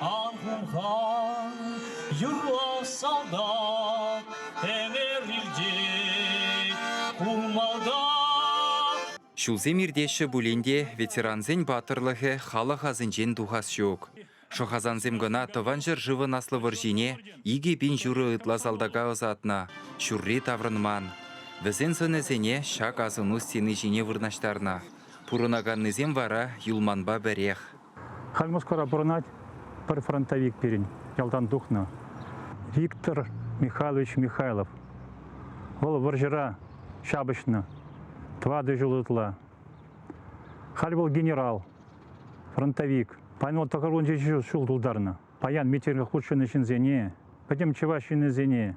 Архумхан юрлас садак Ӗмер илтет курмалта Ҫулсем иртеҫҫӗ пулин те ветерансен паттӑрлӑхӗ халӑх асӗнчен тухас ҫук. Шӑхасансем кӑна Тӑван ҫӗршывӑн Аслӑ вӑрҫине икӗ пин ҫурӑ ытла салтака ӑсатнӑ, ҫурри таврӑнман. Вӗсен сӑнӗсене ҫак асӑну стени ҫине вырнаҫтарнӑ. Пурӑнаканнисем вара юлманпа пӗрех. Халь Москвара пурӑнать пӗр фронтовик пирӗн, ялтан тухнӑ, Виктор Михайлович Михайлов. Вӑл вӑрҫӑра ҫапӑҫнӑ, тӑватӑ ҫул ытла. Халь вӑл генерал, фронтовик. Паймалла тӑхӑрвунҫӑ ҫул тултарнӑ. Паян митингах хутшӑннӑ ҫынсене, пӗтӗм чӑваш ҫыннисене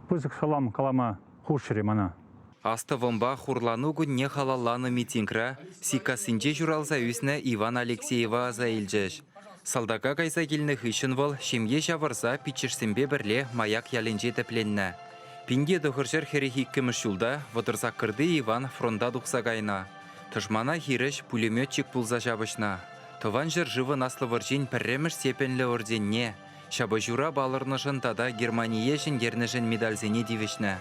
пысӑк салам калама хушрӗ мана. Астӑвӑмпа хурлану кунне халалланӑ митингра Сиккассинче ҫуралса ӳснӗ Иван Алексеева аса илчӗҫ. Салтака кайса килнӗ хыҫҫӑн вӑл ҫемье ҫавӑрса пиччӗшсемпе пӗрле Маяк ялӗнче тӗпленнӗ. Пинте тӑхӑрҫӗр хӗрӗх иккӗмӗш ҫулта Вӑтӑрсаккӑрти Иван фронта тухса кайнӑ. Тӑшмана хирӗҫ пулеметчик пулса ҫапӑҫнӑ. Тӑван ҫӗршывӑн Аслӑ вӑрҫин пӗрремӗш степеньлӗ орденне, Ҫапӑҫура палӑрнӑшӑн тата Германие ҫӗнтернӗшӗн медальсене тивӗҫнӗ.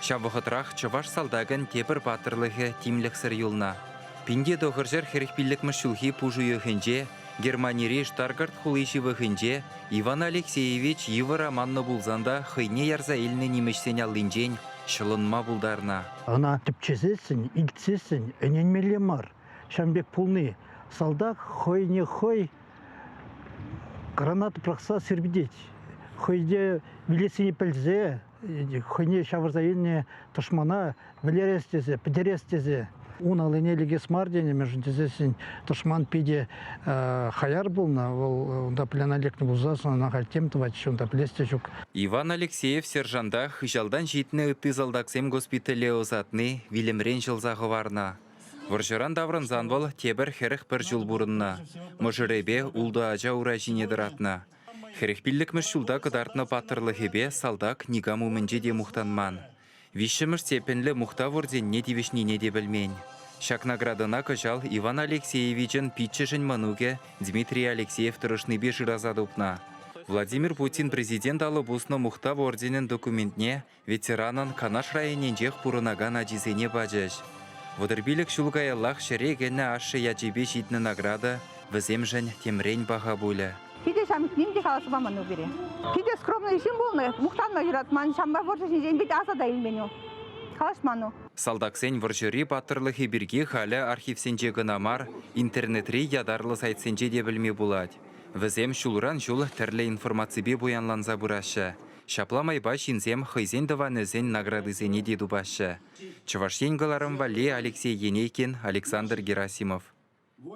Ҫав вӑхӑтрах чӑваш салтакӗн тепӗр паттӑрлӑхӗ тимлӗхсӗр юлнӑ. Пинте тӑхӑрҫӗр хӗрӗх пиллӗкмӗш ҫулхи пуш уйӑхӗнче Германири Штаргарт хули ҫывӑхӗнче Иван Алексеевич йывӑр аманнӑ пулсан та хӑйне ярса илнӗ нимӗҫсен аллинчен ҫӑлӑнма пултарнӑ. Ӑна тӗпчесессӗн, илтсессӗн ӗненмелле мар. Ҫавӑн пек пулни салтак хӑйне хӑй граната пӑрахса сирпӗтет. Хӑйне вилессине пӗлсе хӑйне ҫавӑрса илнӗ тӑшмана вӗлерес тесе, пӗтерес тесе ун аллине лекес мар тенӗ, мӗншӗн тесен тӑшман питӗ хаяр пулнӑ, вӑл унта пляна лекнӗ пулса ӑна халь тем тӑватчӗ, унта пӗлес те ҫук. Иван Алексеев сержанта хыҫалтан ҫитнӗ ытти салтаксем госпитале ӑсатни вилӗмрен ҫӑлса хӑварнӑ. Вӑрҫӑран таврӑнсан вӑл тепӗр хӗрӗх пӗр ҫул пурӑннӑ. Мӑшӑрӗпе ултӑ ача ура ҫине тӑратнӑ. Хӗрӗх пиллӗкмӗш ҫулта кӑтартнӑ паттӑрлӑхӗпе салтак никам умӗнче те мухтанман. Виҫҫӗмӗш степеньлӗ мухтав орденне тивӗҫнине те пӗлмен. Ҫак наградӑна кӑҫал Иван Алексеевичӑн пиччӗшӗн мӑнукӗ Дмитрий Алексеев тӑрӑшнипе шыраса тупнӑ. Владимир Путин президент алӑ пуснӑ Мухтав орденӗн документне ветеранӑн Канаш районӗнчех пурӑнакан ачисене пачӗҫ. Вӑтӑрпилӗк ҫул каяллах ҫӗре кӗнӗ ашшӗ ячӗпе ҫитнӗ награда вӗсемшӗн темрен паха пулӗ. Питӗ ҫамрӑк ним те каласа паман у пире. Питӗ скромный ҫын пулнӑ, мухтанма юратман, ҫампа вӑрҫӑ ҫинчен питӗ аса та илмен у. Калаҫман у. Салтаксен вӑрҫӑри паттӑрлӑхӗ пирки халӗ архивсенче кӑна мар, интернетри ятарлӑ сайтсенче те пӗлме пулать. Вӗсем ҫулран ҫул тӗрлӗ информаципе пуянланса пыраҫҫӗ, Ҫапла майпа ҫынсем хӑйсен тӑванӗсен наградисене те тупаҫҫӗ. Чӑваш Ен кӑларӑм валли Алексей Енейкин, Александр Герасимов.